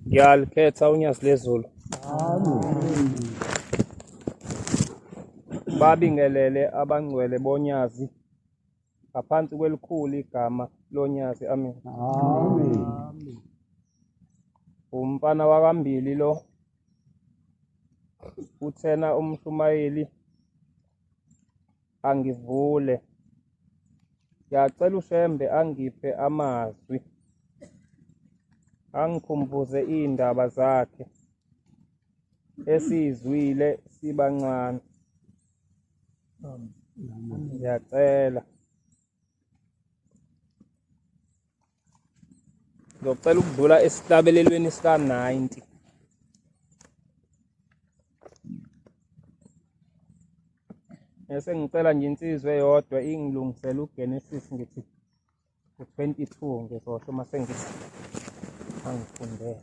ngiyalikhetha unyasi lezulu babingelele abangcwele bonyazi ngaphansi kwelikhulu igama lonyazi amen umfana wakambili lo uthena umshumayeli angivule ngiyacela ushembe angiphe amazwi angikhumbuze iy'ndaba zakhe esiyizwile sibancane ngiyacela Ngizocela ukudlula esihlabelelweni sika-90. Bese ngicela nje insizwa eyodwa ingilungisele uGenesis ngithi u-22 ngizosho uma sengithi angifundele.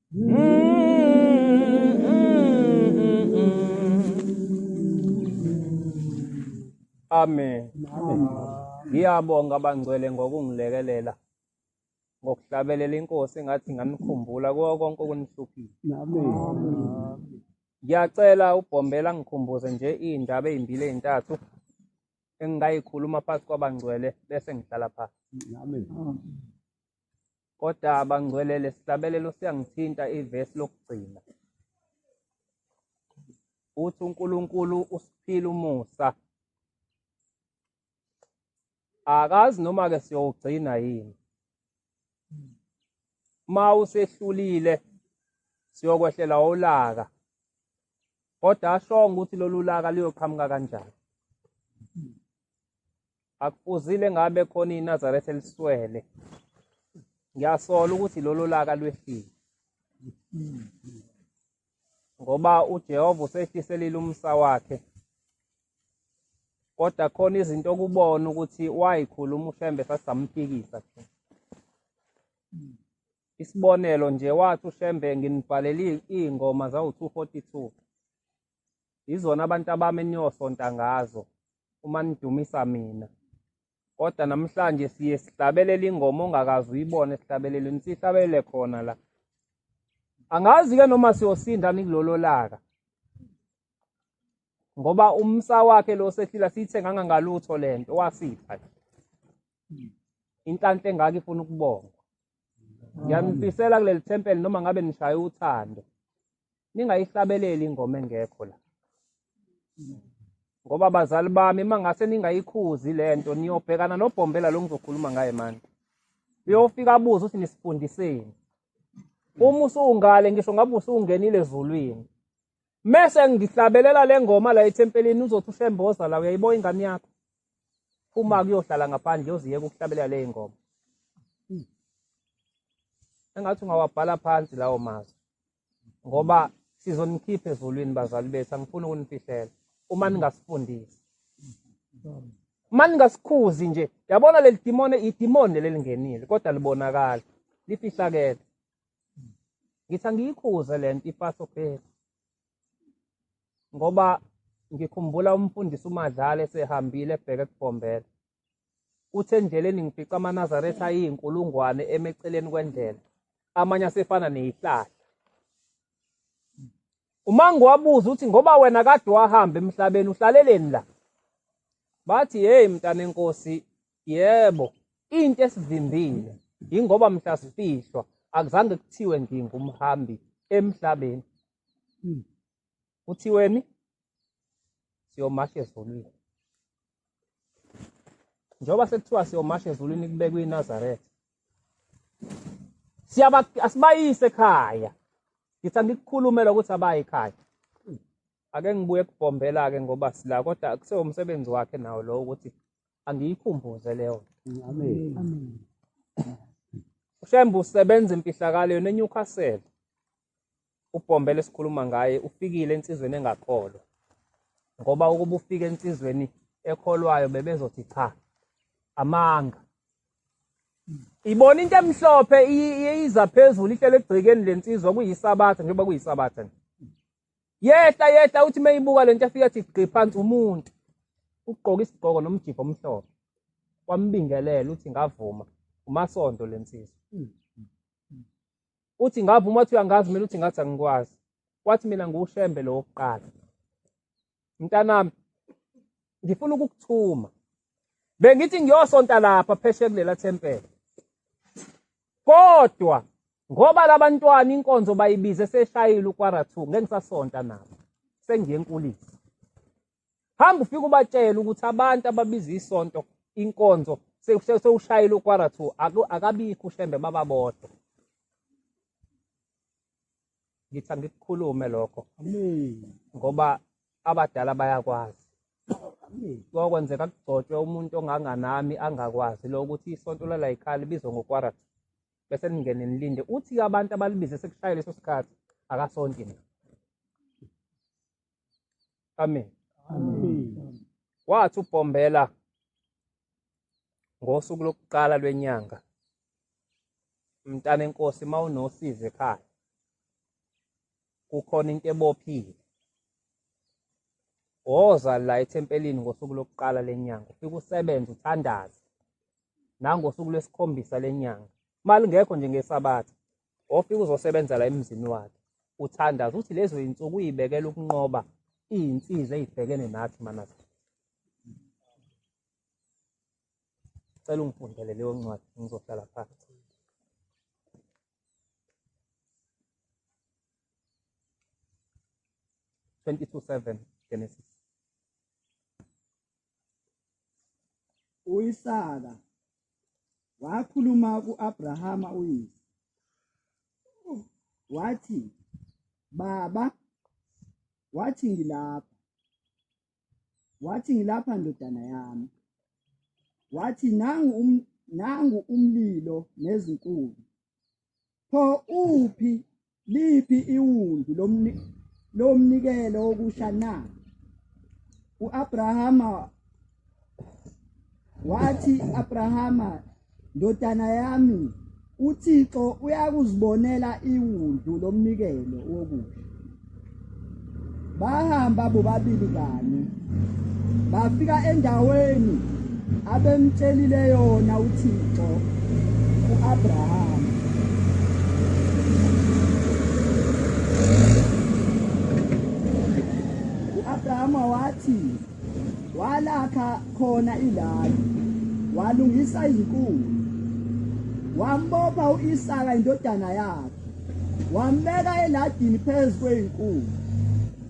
Amen. Ngiyabonga abangcwele ngokungilekelela ngokuhlabelela inkosi engathi ngamikhumbula kuwo konke okunihluphiwe. Ngiyacela ubhombela ngikhumbuze nje iy'ndaba ey'mbili ey'ntathu engingayikhuluma phakathi kwabangcwele bese ngihlala phansi. Kodwa bangcwele lesihlabelelo siyangithinta ivesi lokugcina. Uthi uNkulunkulu usiphile umusa. Akazi noma ke siyogcina yini. Ma usehlulile siyokwehlela olaka. Kodwa ashonga ukuthi lolulaka liyoqhamuka kanjani. Akufuzile ngabe khona iNazaretha eliswele. Ngiyasola ukuthi lolo laka lwehlile. Ngoba uJehova usehliselile umsa wakhe. Kodwa khona izinto okubona ukuthi wayikhuluma uShembe sasamphikisa nje. Isibonelo nje wathi uShembe nginibhalele iy'ngoma zawu-242. Yizona abantu abami eniyosonta ngazo uma nidumisa mina. Kodwa namhlanje siye sihlabelele ingoma ongakazi uyibone sihlabelele nisihlabelele khona la. Angazi ke noma siyosinda nikulolo laka. Ngoba umsa wakhe lo sehlila sithe ngangangalutho lento wasipha. Inhlanhla engaka ifuna ukubonga. Ngiyanifisela kuleli thempeli noma ngabe nishaya uthando. ningayihlabeleli ingoma engekho la ngoba bazali bami uma ngase ningayikhuzi le nto niyobhekana nobhombela lo ngizokhuluma ngaye manje uyofika abuze ukuthi nisifundiseni uma usungale ngisho ngabe usungenile ezulwini mese ngihlabelela le ngoma la ethempelini uzothi ushemboza la uyayiboya ingane yakho uma kuyohlala ngaphandle yoziyeka ukuhlabelela le ngoma engathi ungawabhala phansi lawo mazwi ngoba sizonikhipha ezulwini bazali bethu angifuni ukunifihlela uma ningasifundisi uma ningasikhuzi nje yabona leli dimone idimoni lelingenile kodwa libonakala lifihlakele ngithi angiyikhuze le nto ifaso phela ngoba ngikhumbula umfundisi umadlala esehambile ebheke kubhombela Uthe endleleni ngifica amaNazaretha ayiyinkulungwane eme eceleni kwendlela, amanye asefana neyihlahla. UMango wabuza uthi ngoba wena kade wahamba emhlabeni uhlaleleni la? Bathi hey mntanenkosi yebo into esivimbile yingoba mhla sifihlwa akuzange kuthiwe ngingumhambi emhlabeni. kuthiweni siyomasha ezulwini njengoba sekuthiwa siyomasha ezulwini kubekwe inazaretha siyaba asibayise ekhaya ngithi angikukhulumela ukuthi abaye ekhaya ake ngibuye kubhombela-ke ngoba sila kodwa kusewumsebenzi wakhe nawo lowo ukuthi angiyikhumbuze leyo amen ushembe usebenza empihlakalweni eNewcastle ubhombele esikhuluma ngaye ufikile ensizweni engakholwa ngoba ukuba ufike ensizweni ekholwayo bebezothi cha amanga ibona into emhlophe iyiza phezulu ihlele egcikeni lensizwa kuyisabatha njengoba kuyisabatha nje yehla yehla uthi meyibuka lento afika athi gqi phansi umuntu ugqoka isigqoko nomjipho omhlophe wambingelela uthi ngavuma umasondo lensizwa uthi ngavuma uma uthi uyangazi mina uthi ngathi angikwazi wathi mina ngiwushembe lo wokuqala mntanami ngifuna ukukuthuma bengithi ngiyosonta lapha pheshe kulela thempela kodwa ngoba labantwana inkonzo bayibize seshayile ukwara 2 ngeke ngisasonta nabo sengiye enkulisa hamba ufike ubatshele ukuthi abantu ababiza isonto inkonzo sewushayile ukwara two akabikho ushembe bababodwa ngithi angikukhulume lokho ngoba abadala bayakwazi kwakwenzeka kugcotshwe umuntu onganganami angakwazi lo ukuthi isonto lalayikhali bizwe ngokwara two bese ningene nilinde uthi abantu abalibize sekushayile leso sikhathi akasonti mina amen wathi ubhombela ngosuku lokuqala lwenyanga mntana enkosi mawunosize ekhaya kukhona into ebophile woza la ethempelini ngosuku lokuqala lenyanga ufike usebenze uthandaze nangosuku lwesikhombisa lenyanga malingekho nje ngesabatha ofika uzosebenzela emzini wakhe uthandaza uthi lezo zinsuku uyibekela ukunqoba izinsiza ezibhekene nathi manathi cela ungifundele leyo ncwadi ngizohlala phansi Twenty-two seven Genesis. uIsaka wakhuluma kuAbrahama uyise wathi baba wathi ngilapha wathi ngilapha ndodana yami wathi nangu um, nangu umlilo nezinkulu Pho uphi liphi iwundu lomni lomnikelo okusha na? UAbrahama wathi Abrahama ndodana yami uThixo uyakuzibonela iwundu lomnikelo wokusha. bahamba bobabili kanye bafika endaweni abemtshelile yona uThixo uAbraham uAbraham wathi walakha khona ilali walungisa izinkulu wambopha uIsaka indodana yakhe wambeka eladini phezu kweyinkulu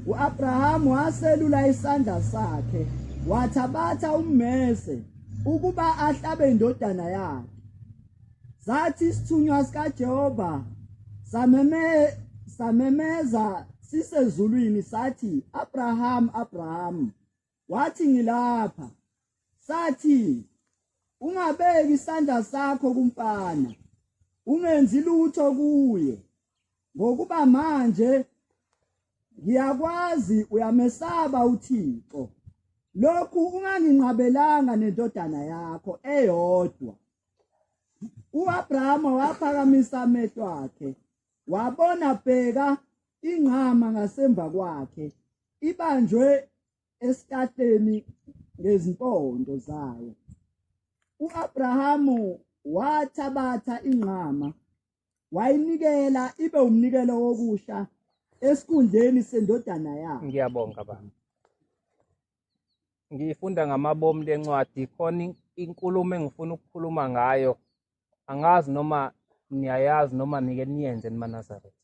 uAbraham waselula isandla sakhe wathabatha ummese ukuba ahlabe indodana yakhe sathi isithunywa sikaJehova sameme samemeza sisezulwini sathi Abraham Abraham wathi ngilapha sathi ungabeki isandla sakho kumfana ungenzi lutho kuye ngokuba manje ngiyakwazi uyamesaba uThixo lokhu unganginqabelanga nendodana yakho eyodwa uAbrahama waphakamisa amehlo akhe wabona bheka ingqama ngasemva kwakhe ibanjwe esikateni ngezimpondo zayo uAbrahamu wathabatha ingqama wayinikela ibe umnikelo wokusha esikhundleni sendodana yakhe ngiyabonga baba ngifunda ngamabomu lencwadi khona inkulumo engifuna ukukhuluma ngayo angazi noma niyayazi noma nike niyenze nimanazareth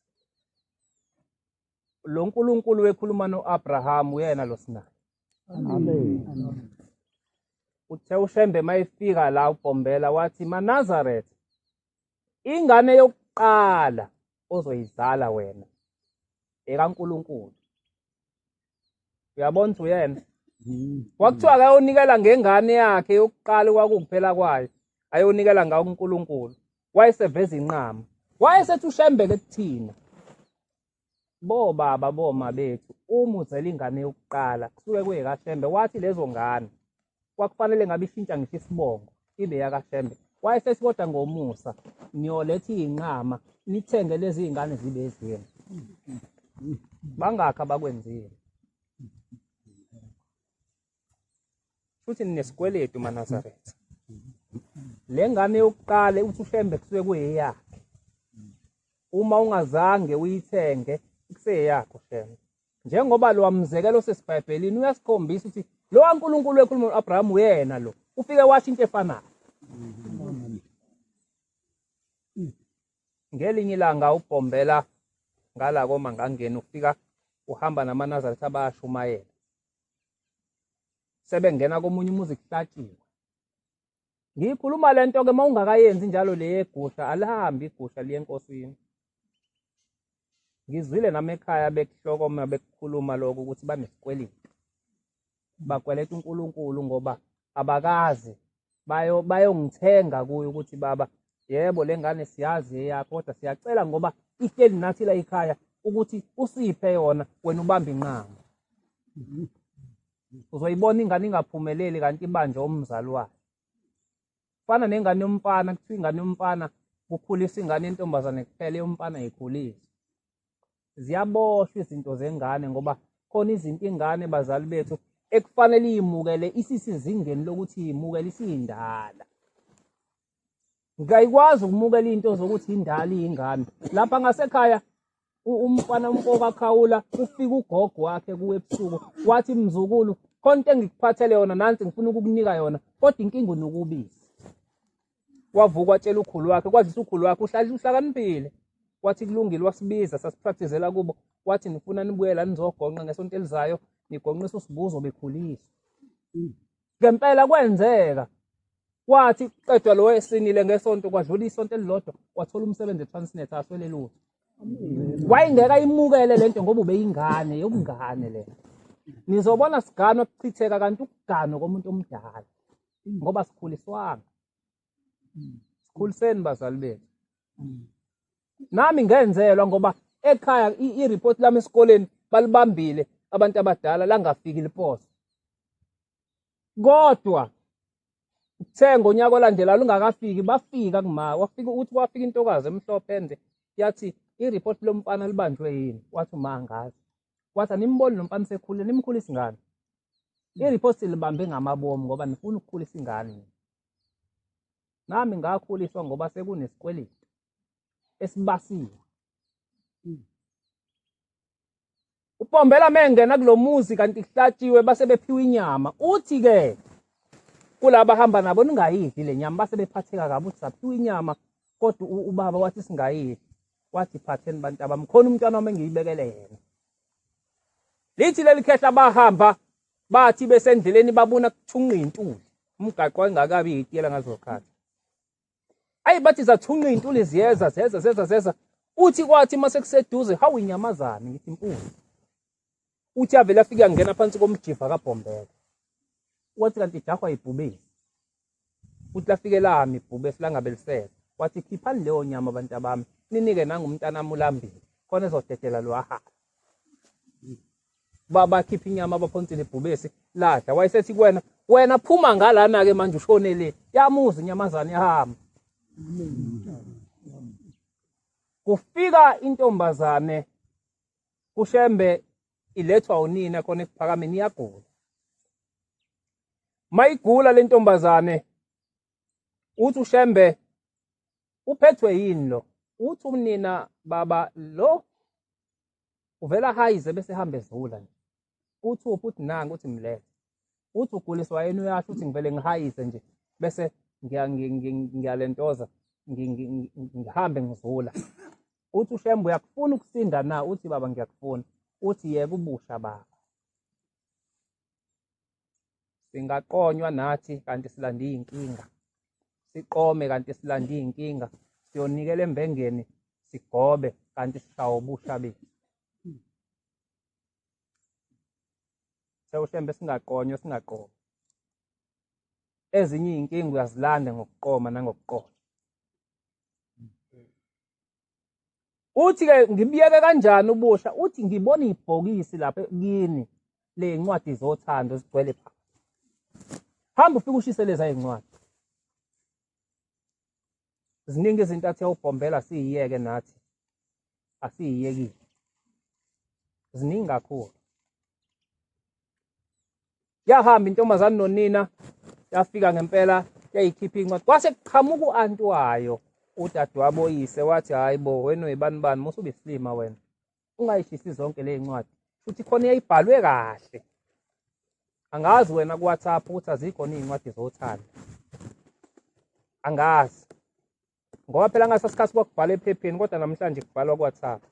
lo nkulunkulu wekhuluma no-abrahamu uyena lo sinayo uthe ushembe uma efika la ubhombela wathi manazareth ingane yokuqala ozoyizala wena ekankulunkulu uyabona ukuthi uyena kwakuthiwa akayonikela ngengane yakhe yokuqala kwakukuphela kwayo ayonikela ngawo uNkulunkulu wayeseveza inqama wayesethi ushembeke kuthina bo baba boma bethu uma uzela ingane yokuqala kusuke kuyekashembe wathi lezo ngane kwakufanele ngabe ishintsha ngisho isibongo ibe yakaShembe wayesesikoda ngomusa niyoletha iy'nqama nithenge lezi y'ngane zibe ezweni bangakhi abakwenzile futhi ninesikweletu manazaretha le ngane yokuqala uthi ushembe kusuke kuyeyakhe uma ungazange uyithenge kuseyakho shembe njengoba lo mzekelo osesiBhayibhelini uyasikhombisa ukuthi lo waNkulunkulu ekhuluma no-Abraham uyena lo ufike washo into efanayo ngelinye ilanga ubhombela ngala koma ngangena ufika uhamba namanazaretha abayashumayela sebengena komunye umuzi kuhlatshiwe Ngiyikhuluma le nto-ke uma ungakayenzi njalo le yegusha alihambi igusha liye enkosini. Ngizwile nami ekhaya bekuhlokoma bekukhuluma lokho ukuthi banesikweleti. Bakweleta uNkulunkulu ngoba abakazi bayo bayongithenga kuye ukuthi baba yebo le ngane siyazi eyakho kodwa siyacela ngoba ihleli nathi la ekhaya ukuthi usiphe yona wena ubambe inqama. uzoyibona ingane ingaphumeleli kanti ibanje umzali wayo fana nengane yomfana kuthiwa ingane yomfana kukhulisa ingane yentombazane kuphela yomfana yikhulisa ziyaboshwa izinto zengane ngoba khona izinto ingane bazali bethu ekufanele iyimukele isisizingeni lokuthi yimukele isiyindala ngiyayikwazi ukumukela into zokuthi indala iyingane lapha ngasekhaya umfana umfoka khawula ufika ugogo wakhe kuwe ebusuku wathi mzukulu konke engikuphathele yona nansi ngifuna ukukunika yona kodwa inkinga unokubiza wavuka watshela ukhulu wakhe kwazisa ukhulu wakhe uhlala uhlakaniphile wathi kulungile wasibiza sasipractizela kubo wathi nifuna nibuyela nizogonqa ngesonto elizayo nigonqisa usibuzo bekhuliswa ngempela kwenzeka kwathi qedwa lo esinile ngesonto kwadlula isonto elilodwa wathola umsebenzi eTransnet aswele lutho wayengeka imukele lento ngoba ubeyingane yokungane le nizobona sigano kuchitheka kanti ukugano komuntu omdala ngoba sikhuliswanga sikhuliseni bazali bethu nami ngenzelwa ngoba ekhaya i-report lami esikoleni balibambile abantu abadala langafiki liposa kodwa kuthe ngonyaka olandela lungakafiki bafika kuma wafika uthi wafika intokazi emhlophe ende yathi i-report lomfana libanjwe yini wathi uma angazi wathi animboni lo mfana sekhulile nimkhulisa ingane i-report silibambe ngamabomu ngoba nifuna ukukhulisa ingane nami ngakhuliswa ngoba sekunesikweletu esibasiwe hmm. upombela mengena kulomuzi kanti kuhlatshiwe base bephiwa inyama uthi ke kulaba hamba nabo ningayidli lenyama base bephatheka kabi uthi saphiwa inyama kodwa ubaba wathi singayidli wathi phatheni bantu abamkhona umntwana wami engiyibekele yena lithi leli khehla bahamba bathi besendleleni babona kuthunqa intuli umgaqo engakabi yitiyela ngazokhathi ayi bathi zathunqa intuli ziyeza zeza zeza zeza uthi kwathi mase kuseduze hawu inyamazane ngithi impunzi uthi avele afike angena phansi komjiva kabhombela wathi kanti jahwa ibhubile Futhi lafike lami ibhubesi langabelisela. Wathi, Khiphani leyo nyama bantabami, ninike nangumntanami ulambile, khona ezodedela lo ahambe. Ba- Bakhipha inyama abaphonsile ibhubesi, ladla. Wayesethi kuwena, wena phuma ngalana-ke manje ushone le. Yamuza inyamazane yahamba. Kufika intombazane kushembe ilethwa unina khona ekuphakameni iyagula. mayigula le ntombazane uthi ushembe uphethwe yini lo uthi umnina baba lo uvela hayize bese hambe zula nje uthi uphi uthi nangu uthi mlethe uthi uguliswa yena uyasho uthi ngivele ngihayize nje bese ngiyalentoza ngihambe ngizula uthi ushembe uyakufuna ukusinda na uthi baba ngiyakufuna uthi yeka ubusha baba singaqonywa nathi kanti silande iy'nkinga siqome kanti silande iy'nkinga siyonikela embengeni sigobe kanti sishawa ubusha bethu sewushembe singaqonywa singaqomi ezinye iy'nkinga uyazilanda ngokuqoma nangokuqola uthi ke ngibiyeke kanjani ubusha uthi ngibona ibhokisi lapha kini le ncwadi zothando zigcwele pha hamba ufike ushise leza izincwadi ziningi izinto athe ubhombela siyiyeke nathi asiyiyekile ziningi kakhulu yahamba intombazane nonina yafika ngempela yayikhipha incwadi kwase kuqhamuka u-anti wayo udadewabo oyise wathi hhayi bo wena uyibani bani musa ubisilima wena ungayishisi zonke le ncwadi futhi khona yayibhalwe kahle angazi wena kuwhatsapp ukuthi azikhona iy'ncwadi zothando angazi ngoba phela ngasasikhathi kwakubhala ephepheni kodwa namhlanje kubhalwa kuwhatsapp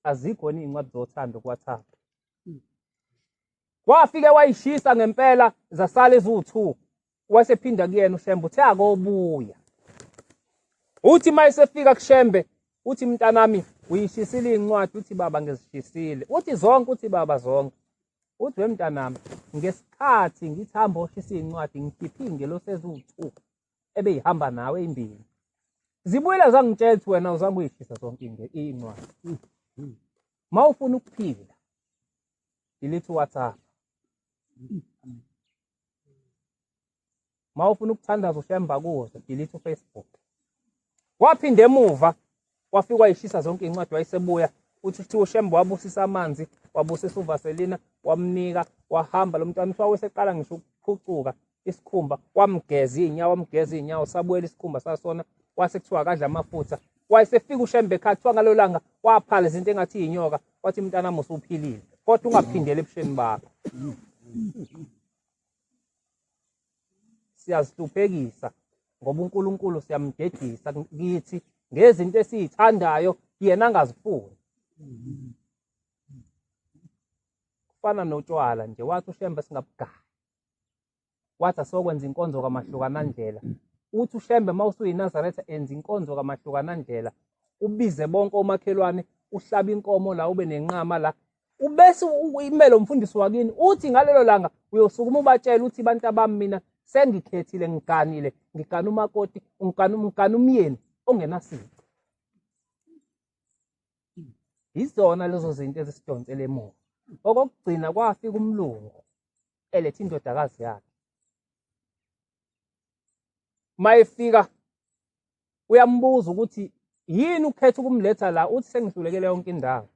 azikho yini iy'ncwadi zothando kuwhatsapp hmm. wafike wayishisa ngempela zasala eziwu-two wasephinda kuyena ushembe uthe akobuya uthi uma esefika kushembe uthi mntanami uyishisile iy'ncwadi uthi baba ngizishisile uthi zonke uthi baba zonke uthi wemntanami ngesikhathi ngithi hambe oshisa iy'ncwadi ngikhiphe iy'ngelosi eziwu-two ebeyihamba nawe imbili zibuyela zangitshela ukuthi wena uzama uyishisa zonke into incwadi ma ufuna ukuphila yilithi whatsapp ma ufuna ukuthandaza ushaye embakuzo yilithi ufacebook Waphinda emuva wafika wayishisa zonke izincwadi wayesebuya uthi kuthiwa uShembe wabusisa amanzi wabusisa uVaselina wamnika wahamba lo mntwana uthi waweseqala ngisho ukuphucuka isikhumba wamgeza iy'nyawo wamgeza iy'nyawo sabuyela isikhumba sasona wase kuthiwa akadla amafutha wayesefika uShembe ekhaya kuthiwa ngalo langa waphala izinto engathi yinyoka wathi mntanami usuphilile kodwa ungaphindeli ebusheni bakho siyazihluphekisa ngoba uNkulunkulu siyamdedisa kithi ngezinto esizithandayo yena angazifuni kufana notshwala nje wathi ushembe singabugaya wathi asokwenza inkonzo kamahlukanandlela uthi ushembe uma usuyinazaretha enza inkonzo kamahlukanandlela ubize bonke omakhelwane uhlaba inkomo la ube nenqama la ubese imelo mfundisi wakini uthi ngalelo langa uyosukuma ubatshela uthi abantu abami mina sengikhethile ngiganile ngigana umakoti ngigana ngigana umyeni ongenasici yizona lezo zinto ezisidonsele emuva okokugcina kwafika umlungu eletha indodakazi yakhe mayefika uyambuza ukuthi yini ukhetha ukumletha la uthi sengihlulekele yonke indawo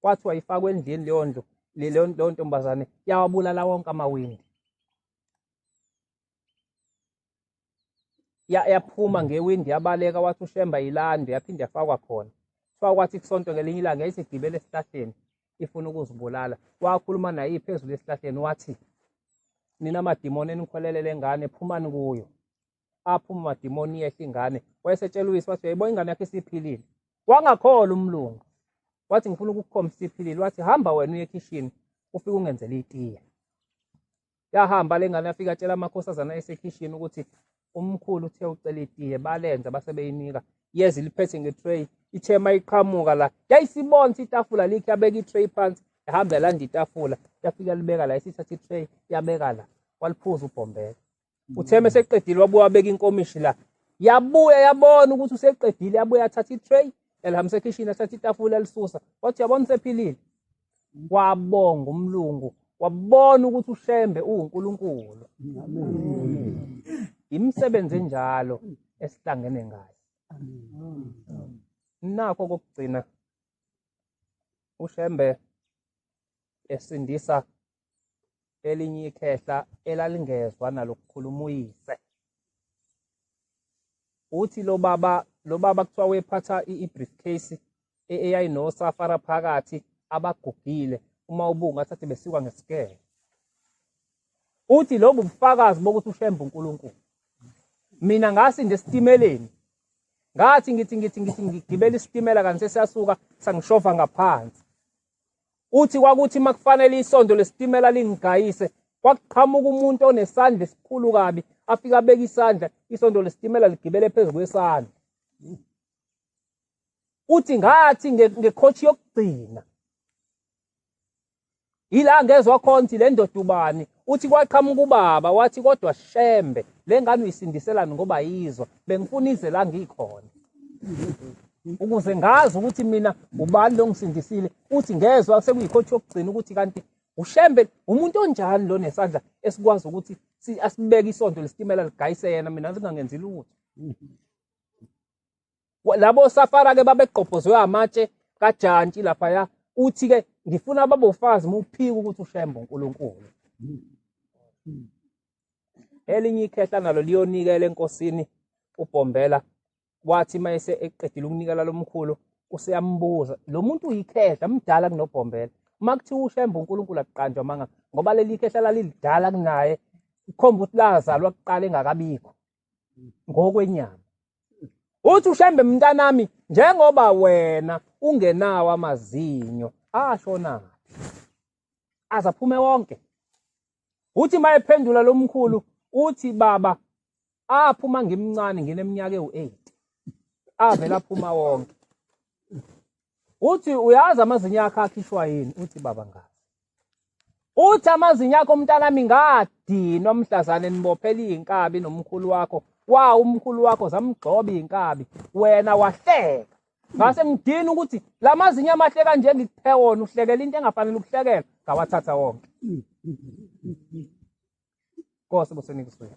kwathiwa ifakwe endlini leyo ndlu leyo ntombazane yawabulala wonke amawindi yaphuma ngewindi yabaleka wathi ushemba yilando yaphinde yafakwa khona kuthiwa kwathi kusonto ngelinye ilanga yayisigibele esihlahleni ifuna ukuzibulala wakhuluma naye phezulu esihlahleni wathi nina madimoni enikholelele ngane phumani kuyo aphuma amadimoni iyehla ingane wayesetshela uyise wathi uyayibona ingane yakhe isiphilile wangakhola umlungu wathi ngifuna ukukukhombisa isiphilile wathi hamba wena uye ekhishini ufike ungenzele itiye yahamba le ngane yafika atshela amakhosazana esekhishini ukuthi umkhulu uthe ucela itiye balenza basebeyinika yeza iliphethe ngetray ithe uma iqhamuka la yayisibona itafula likhe yabeka itray phansi yahamba yalanda itafula yafika libeka la isithatha itray yabeka la waliphuza ubhombela uthe uma eseqedile wabuya wabeka inkomishi la yabuya yabona ukuthi useqedile yabuya athatha i-tray elihambisa ekhishini athatha itafula elisusa wathi yabona usephilile kwabonga umlungu wabona ukuthi ushembe uwunkulunkulu imisebenzi enjalo esihlangene ngayo nakho kokugcina ushembe esindisa elinye ikhehla elalingezwa nalokukhuluma uyise uthi lo baba lo baba kuthiwa wephatha i-briefcase e-, eyayinosafara phakathi abagugile uma ubunga thathe besikwa ngesikele uthi lobu bufakazi bokuthi ushembe uNkulunkulu mina ngasinda esitimeleni ngathi ngithi ngithi ngithi ngigibela isitimela kanti sesiyasuka sangishova ngaphansi Uthi kwakuthi makufanele isonto lesitimela lingigayise kwakuqhamuka umuntu onesandla esikhulu kabi afika abeka isandla isonto lesitimela ligibele phezu kwesandla. Uthi ngathi ngekhothi yokugcina ila ngezwa khona ukuthi le ndoda ubani Uthi kwaqhamuka ubaba wathi kodwa shembe le ngane uyisindiselani ngoba yizwa bengifuna ize la ngikhona ukuze ngazi ukuthi mina ubani lo ngisindisile uthi ngezwa sekuyikhothi yokugcina ukuthi kanti ushembe umuntu onjani lo nesandla esikwazi ukuthi asibeke isonto lesitimela ligayise yena mina singangenzi lutho labo safara ke babegqobhozwe amatshe kajantshi laphaya uthi ke ngifuna babofazi muphika ukuthi ushembe uNkulunkulu elinye ikhehla nalo liyonikela enkosini ubhombela wathi mayese eqedile ukunikela lomkhulu useyambuza lo muntu uyikhehla mdala kunobhombela uma kuthiwa ushembe uNkulunkulu akuqanjwa manga ngoba leli khehla lalilidala kunaye kukhomba ukuthi lazalwa kuqala engakabikho ngokwenyama uthi ushembe mntanami njengoba wena ungenawo amazinyo ashonaphi azaphume wonke uthi mayephendula lomkhulu uthi baba aphuma ngimncane ngineminyaka ewu8 avela phuma wonke uthi uyazi amazinyo akhe akhishwa yini uthi baba ngazi uthi amazinyo akho mntanami ngadinwa mhlazane nibophela iy'nkabi nomkhulu wakho wa umkhulu wakho zamgxoba iy'nkabi wena wahleka ngase ngidini ukuthi la mazinyo amahle kanje ngikuphe wona uhlekela into engafanele ukuhlekela ngawathatha wonke Nkosi buseni kuswele.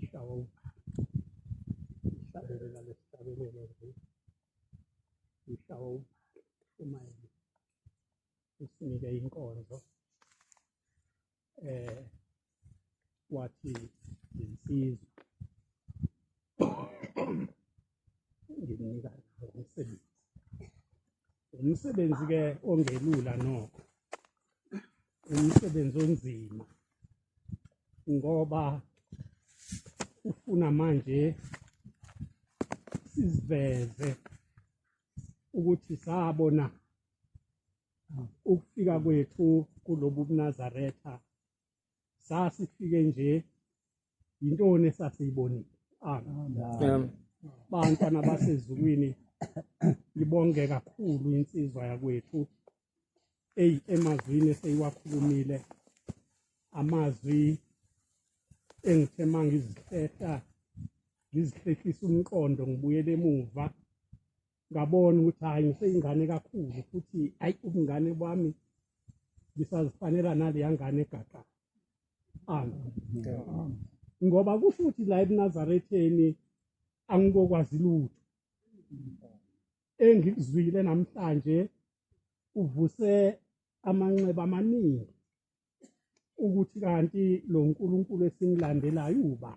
ishawa ihlabelela lesihlabelelo nje ishawa umayini usinike inkonzo eh wathi insizwa nginika umsebenzi umsebenzi ke ongelula nokho umsebenzi onzima ngoba ufuna manje siziveze ukuthi sabona ukufika kwethu kulobu bunazaretha sasifike nje yintoni esasiyibonile amen bantwana basezulwini ibonge kakhulu insizwa yakwethu eyi emazwini eseyiwakhulumile amazwi engithe uma ngizihlehla ngizihlehlisa umqondo ngibuyele emuva ngabona ukuthi hhayi ngiseyingane kakhulu futhi hhayi ubungane bami ngisazifanela naleya ngane egaqa ngoba kusho ukuthi la ebunazaretheni angikokwazi lutho engikuzwile namhlanje uvuse amanxeba amaningi ukuthi kanti lo nkulunkulu esimlandelayo uba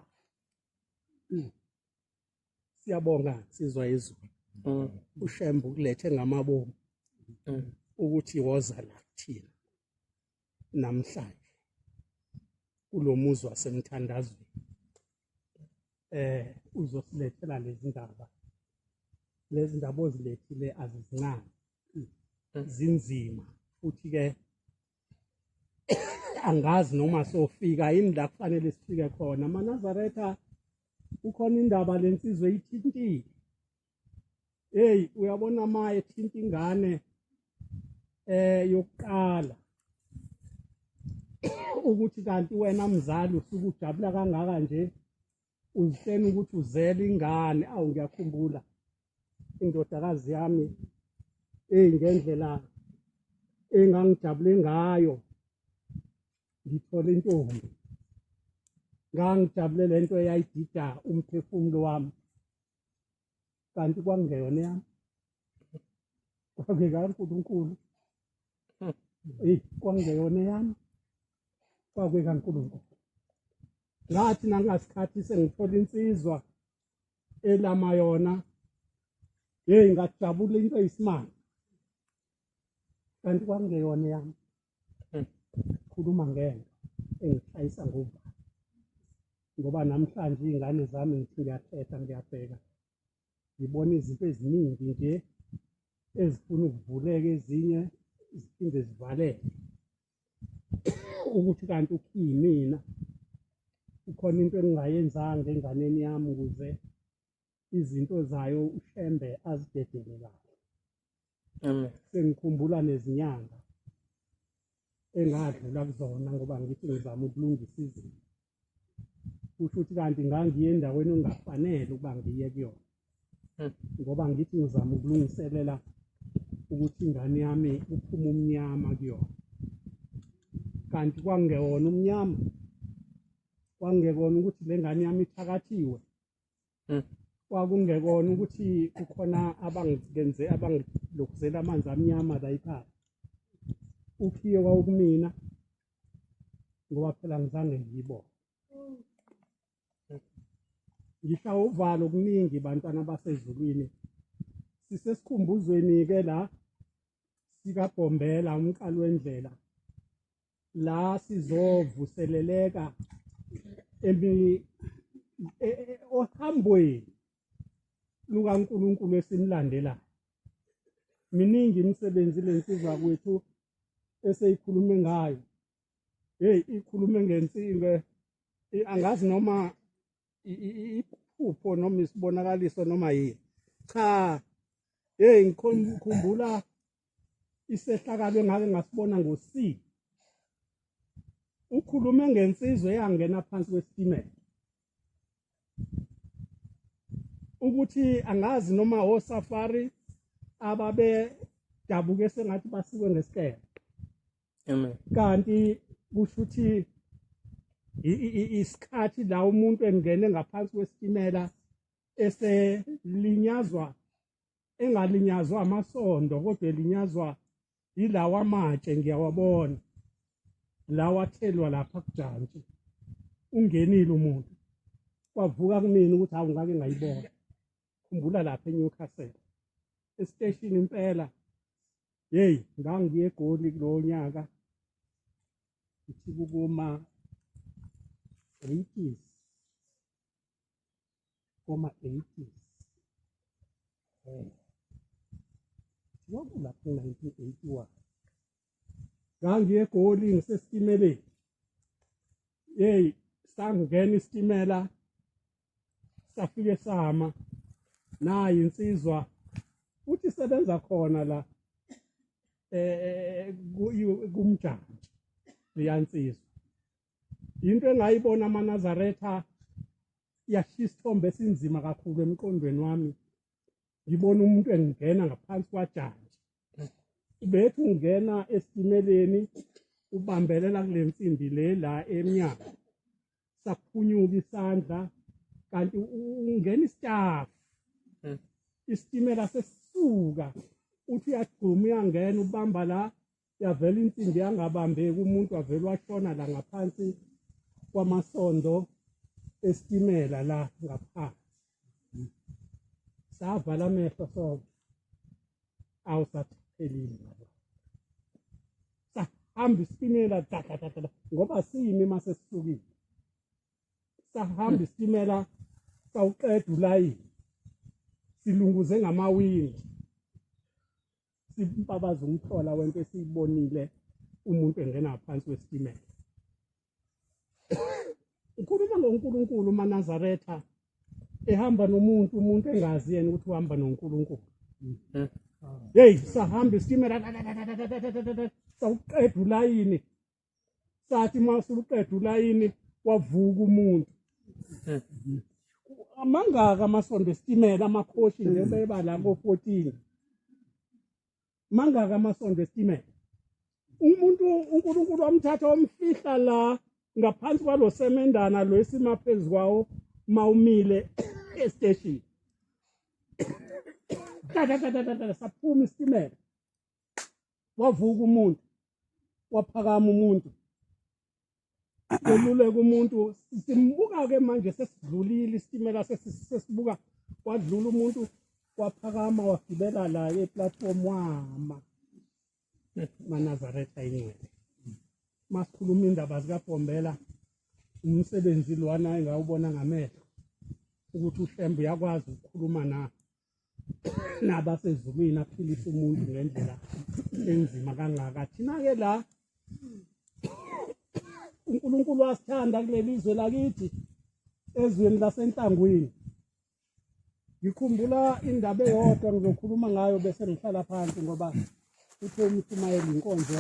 siyabonga sizwa izulu mm. ushembe ukulethe ngamabomu mm. ukuthi woza la kuthina namhlanje kulo muzi wasemthandazweni eh uzosilethela lezi ndaba lezi ndaba ozilethile azizincane zinzima futhi-ke angazi noma sofika yini la kufanele sifike khona manazaretha kukhona indaba lensizwe ithintile hey uyabona maye thinta ingane eh yokuqala ukuthi kanti wena mzali usuke ujabula kangaka nje uyihleni ukuthi uzele ingane awu ngiyakhumbula indodakazi yami eyi ngendlela engangijabule ngayo ngithole intombi ngangijabule le nto eyayidida umphefumulo wami kanti kwakungeyona yami kwakuyekankulunkulu hmm. eyi kwakungeyona yami kwakuyekankulunkulu ngathi nangasikhathi sengithola insizwa elama yona yeyi ngajabula into eyisimanga kanti kwakungeyona yami khuluma ngento engishayisa ngoba ngoba namhlanje iy'ngane zami ngithi ngiyathetha ngiyabheka ngibona izinto eziningi nje ezifuna ukuvuleka ezinye ziphinde zivaleke ukuthi kanti ukhiyimina kukhona into engingayenzanga enganeni yami ukuze izinto zayo ushembe azidedele kahle amen sengikhumbula nezinyanga engadlula kuzona ngoba ngithi ngizama ukulungisa izinto kusho ukuthi kanti ngangiye endaweni ongafanele ukuba ngiye kuyona hmm. ngoba ngithi ngizama ukulungiselela ukuthi ingane yami uphume umnyama kuyona kanti kwangewona umnyama kwangekona ukuthi le ngane yami ithakathiwe Hmm. kwakungekona ukuthi kukhona abangenze abangilokhuzela amanzi amnyama la ikhaya ukhiye wawukumina ngoba phela ngizange ngiyibone ngihla uvalo kuningi bantwana basezulwini sisesikhumbuzweni-ke la sikabhombela umqali wendlela la sizovuseleleka emi e, e, ohambweni lukaNkulunkulu esimlandelayo miningi imisebenzi lensizwa kwethu eseyikhulume ngayo hey ikhulume ngensinge angazi noma iphupho noma isibonakaliso noma yini cha hey ngikhumbula isehlakalo engake ngasibona ngo-C ukhulume ngensizwe eyangena phansi kwesitimela ukuthi angazi noma osafari ababedabuke sengathi basikwe ngesikele amen kanti kusho ukuthi isikhathi la umuntu engene ngaphansi kwesitimela eselinyazwa engalinyazwa amasondo kodwa elinyazwa yilawa amatshe ngiyawabona lawa athelwa lapha kujantshi ungenile umuntu kwavuka kumina ukuthi hawu ngake ngayibona khumbula lapha eNewcastle esiteshini impela hey ngangiye egoli kulowo nyaka ithi kukuma 80s koma 80s eh lokhu lapho 1981 ngangiye egoli ngisesitimeleni hey sangena isitimela safike sama nayi insizwa uthi sebenza khona la eh kumjantshi liyansizwa into engayibona amanazaretha yashiya isithombe esinzima kakhulu emqondweni wami ngibona umuntu engingena ngaphansi kwajantshi bethi ungena esitimeleni ubambelela kule nsimbi le la emnyango saphunyuka isandla kanti ungena isitafu hmm. isitimela sesisuka uthi uyagcuma uyangena ubamba la yavela insimbi yangabambeki umuntu wavele washona la ngaphansi kwamasondo esitimela la ngaphansi savala amehlo sonke awusathelile sahamba isitimela dadadadada ngoba siyimi uma sesisukile sahamba isitimela sawuqeda ulayini silunguze ngamawindi sibabaza umthola wento esiyibonile umuntu engena phansi kwesitimela ukhuluma ngoNkulunkulu uManazaretha ehamba nomuntu umuntu engazi yena ukuthi uhamba noNkulunkulu mhm. hey sahamba isitimela sawuqeda ulayini sathi uma usuqeda ulayini wavuka umuntu amangaka amasonto esitimela amakhoshi nje hmm. beba la ko-14 mangaka amasonto esitimela umuntu unkulunkulu wamthatha wamfihla la ngaphansi kwalo semendana lo esima phezu kwawo mawumile esiteshini saphuma isitimela wavuka umuntu waphakama umuntu eluleka umuntu simbuka ke manje sesidlulile isitimela sesibuka wadlula umuntu waphakama wagibela la eplatform wama manazaretha ingcwele masikhuluma indaba zikabombela umsebenzi lwana engawubona ngamehlo ukuthi uhlwembe uyakwazi ukukhuluma na naba sezulwini aphilisa umuntu ngendlela enzima kangaka thina ke la uNkulunkulu wasithanda kuleli izwe lakithi ezweni lasenhlangwini ngikhumbula indaba eyodwa ngizokhuluma ngayo bese ngihlala phansi ngoba uthe umshumayeli inkonzo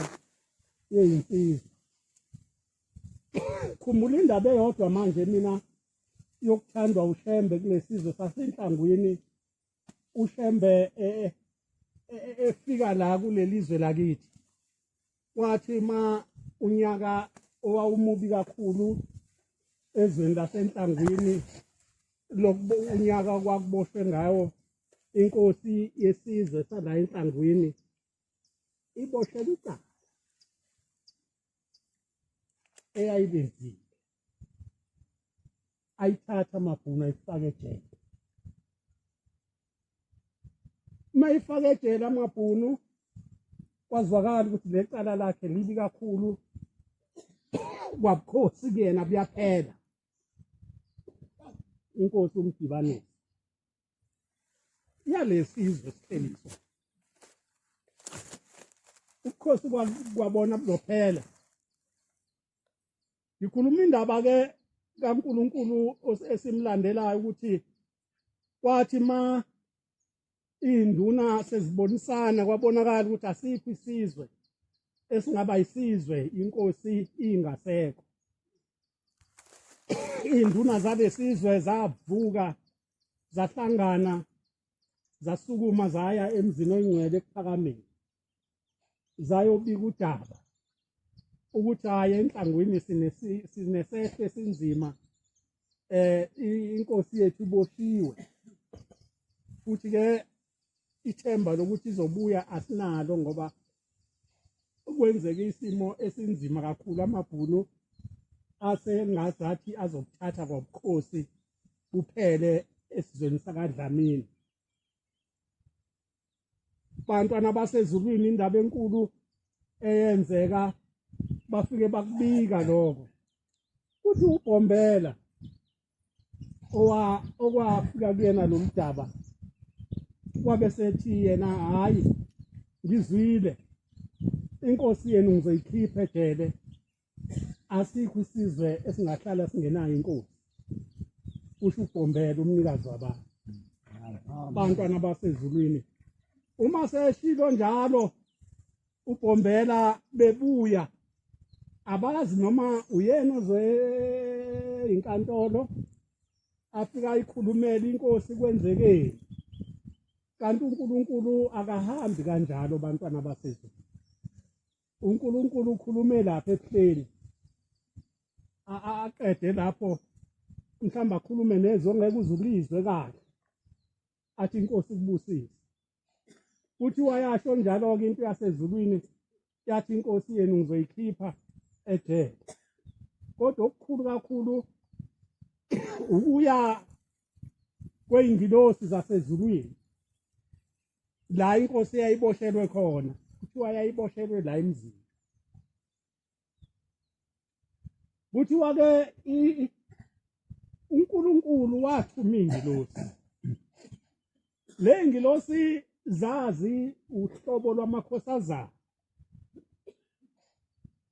yeyinsizwa khumbula indaba eyodwa manje mina yokuthandwa ushembe kulesizwe sasenhlangwini ushembe e, e, e, efika la kuleli zwe lakithi wathi ma unyaka owawumubi kakhulu ezweni lasenhlangwini lokuba unyaka kwakuboshwe ngawo inkosi yesizwe sala enhlangwini iboshela icala eyayibenzile ayithatha amabhunu ayifake ejele uma ifake ejele amabhunu kwazwakala ukuthi lecala lakhe libi kakhulu kwabukhosi kuyena buyaphela inkosi umdibanisi yalesi izwe siqiniso ubukhosi kwabona buzophela ngikhuluma indaba ke kaNkuluNkulu esimlandelayo ukuthi kwathi ma induna sezibonisana kwabonakala ukuthi asikho isizwe esingaba isizwe inkosi ingasekho induna zalesizwe zavuka zahlangana zasukuma zaya emzini oyingcwele ekuphakameni zayobika udaba ukuthi hayi enhlangwini sinesehlo esinzima eh inkosi yethu iboshiwe futhi ke ithemba lokuthi izobuya asinalo ngoba kwenzeke isimo esinzima kakhulu amabhunu asengazathi azokuthatha kwabukhosi kuphele esizweni sakadlamini bantwana basezulwini indaba enkulu eyenzeka bafike bakubika lokho kuthi ubhombela owa okwafika kuyena lo mdaba wabe sethi yena hhayi ngizwile inkosi yenu ngizoyikhipha ejele asikho isizwe esingahlala singenayo inkosi usho ubhombela umnikazi wabantu abantwana basezulwini uma seshilo njalo uBhombela bebuya abazi noma uyena oze inkantolo afika ikhulumela inkosi kwenzekeni kanti uNkulunkulu akahambi kanjalo bantwana basezulu uNkulunkulu ukhulume lapha ebuhleni aqede lapho mhlawumbe akhulume nezwe ngeke uzulizwe kahle athi inkosi kubusise futhi wayasho njalo-ke into yasezulwini yathi inkosi yenu ngizoyikhipha ejele kodwa okukhulu kakhulu ukuya kwey'ngilosi zasezulwini la inkosi eyayiboshelwe khona kuthiwa yayiboshelwe la emzini kuthiwa ke uNkulunkulu wathuma ingilosi le ngilosi zazi uhlobo lwamakhosi azayo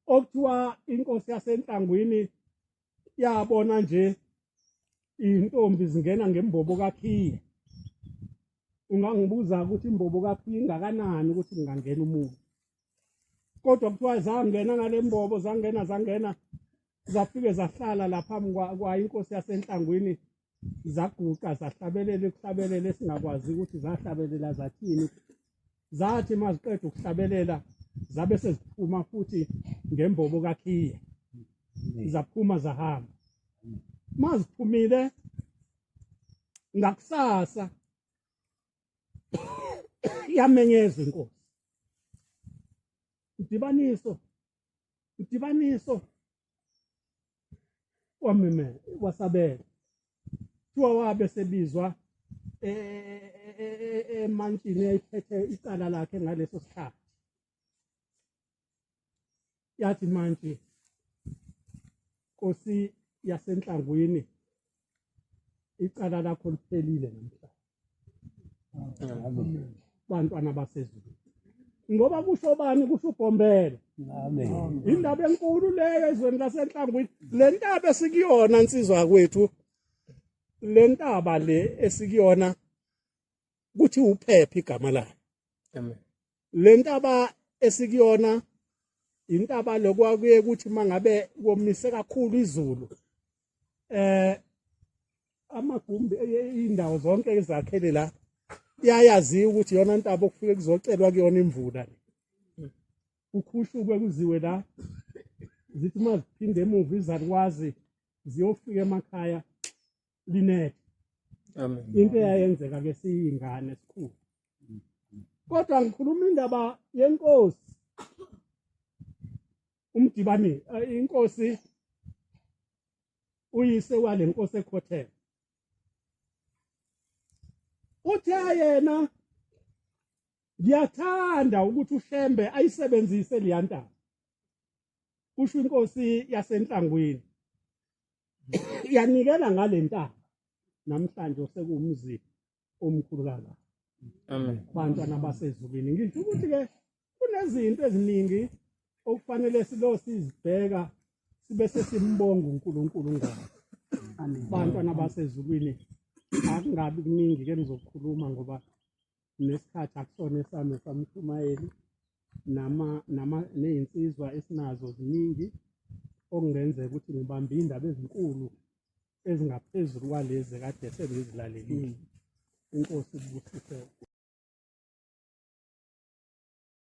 okuthiwa inkosi yasenhlangwini yabona nje iy'ntombi zingena ngembobo kakhiye ungangibuza ukuthi imbobo kakhiye ingakanani ukuthi kungangena umuntu kodwa kuthiwa zangena ngale mbobo zangena zangena zafike zahlala lapha phambi kwayo inkosi yasenhlangwini zaguqa zahlabelela ukuhlabelela esingakwazi ukuthi zahlabelela zathini zathi uma ziqeda ukuhlabelela zabe seziphuma futhi ngembobo kakhiye zaphuma zahamba uma ziphumile ngakusasa yamenyeza inkosi idibaniso udibaniso wameme wasabela kuthiwa wabe sebizwa e, e, e, emantshini eyayiphethe icala lakhe ngaleso sikhathi yathi mantshi Nkosi yasenhlangwini icala lakho liphelile namhlanje. Amen. Bantwana basezulu. Ngoba kusho bani kusho ugombela. Amen. Indaba enkulu leyo ezweni lasenhlangwini. Le ntaba esikuyona insizwa kwethu. Le ntaba le esikuyona ukuthi uphephe igama lakhe amen lentaba esikuyona intaba lokwakuye ukuthi mangabe komise kakhulu izulu eh amagumbi indawo zonke ezakhele la iyayaziwa ukuthi yona ntaba okufike kuzocelwa kuyona imvula ukhushukwe kuziwe la zithi uma ziphinde emuva izalukwazi ziyofika emakhaya Linet amen into eyayenzeka ke siyingane sikhulu kodwa ngikhuluma indaba yenkosi umdibani eh, inkosi uyise wale nkosi ekhothela uthe yena ngiyathanda ukuthi ushembe ayisebenzise leyantaba kusho inkosi yasenhlangwini yanikela ngale ntaba namhlanje osekuwumzi omkhulu kangaka amen bantwana basezulwini ngisho ukuthi ke kunezinto eziningi okufanele silo sizibheka sibe sesimbonga uNkulunkulu ngazo bantwana basezulwini akungabi kuningi ke nizokhuluma ngoba nesikhathi akusona esami samshumayeli nama nama nezinsizwa esinazo ziningi okungenzeka ukuthi ngibambe indaba ezinkulu ezingaphezulu kwalezi kade sengizilalelile inkosi ibusise